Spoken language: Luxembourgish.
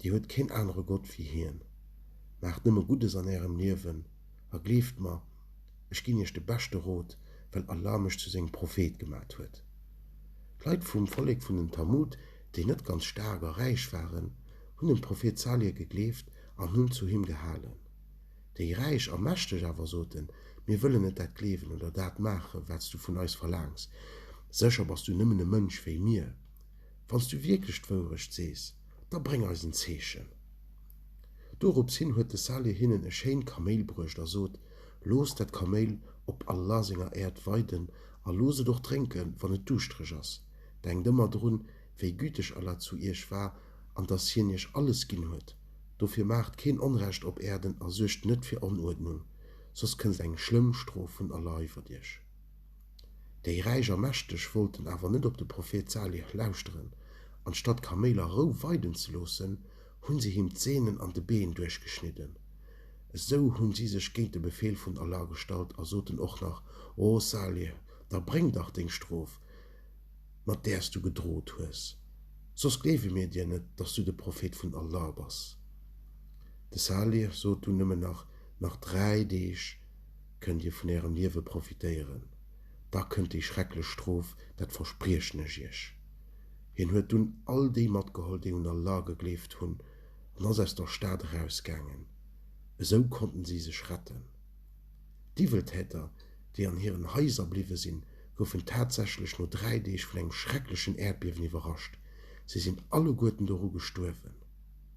Dir huet keen anere Gott wéi hien. Maacht nëmme Guddes an ärem Liewen a gleeft mer, ech ginn iech de beschte Rot, well Allah mech zu sengem Prophet gemat huet. D'Leit vum Vollek vun den Thamud, déi net ganz staark a räich waren, hunn dem Prophet Salih gegleeft an hunn zu him gehalen. Déi Räich a Mächteg awer soten, Mir wëllen net dat gleewen oder dat maachen, wat s du vun eis verlaangs. Sécher bass du nëmmen e Mënsch wéi mir. Wann s du wierklech d'Wourecht sees, da bréng eis en Zeechen. Dorops hin huet de Salih hinnen e schéint Kaméil bruecht a sot, Loosst dat Kaméil op Allah senger Äerd weiden a loosst et och drénken, wann et duuschtereg ass. Denkt ëmmer drun, wéi güteg Allah zu iech war an dass Hien iech alles ginn huet. Dofir maacht keen Onrecht op Äerden a suergt net fir Onuerdnung, soss kënnst eng schlëmm Strof vun Allah iwwert iech. Déi Räich a Mächteg wollten awer net op de Prophet Salih lauschteren. Anstatt Kaméil a Rou weiden ze loossen, hunn se him d'Sehnen an de Been duerchgeschnidden. Esou hunn si sech géint de Befeel vun Allah gestallt a soten och nach, O Salih, da bréng dach deng Strof, mat där s du gedroht hues, soss gleewe mir dir net, dass du de Prophet vun Allah bass. De Salih sot dunn nëmmen nach, Nach dräi Deeg. Kënnt Dir vun Ärem Liewe profitéieren, da kënnt déi schrecklech Strof, dat verspriechen ech Iech. Hien huet dunn all déi matgeholl, déi un Allah gegleeft hunn, an ass aus der Stad erausgaangen. Esou konnten si sech retten. D'Iwweltäter, déi an hiren Haiser bliwwe sinn, goufen tatsächlech no dräi Deeg vun engem schrecklechen Äerdbiewen iwwerrascht. Si sinn alleguerten doru gestuerwen.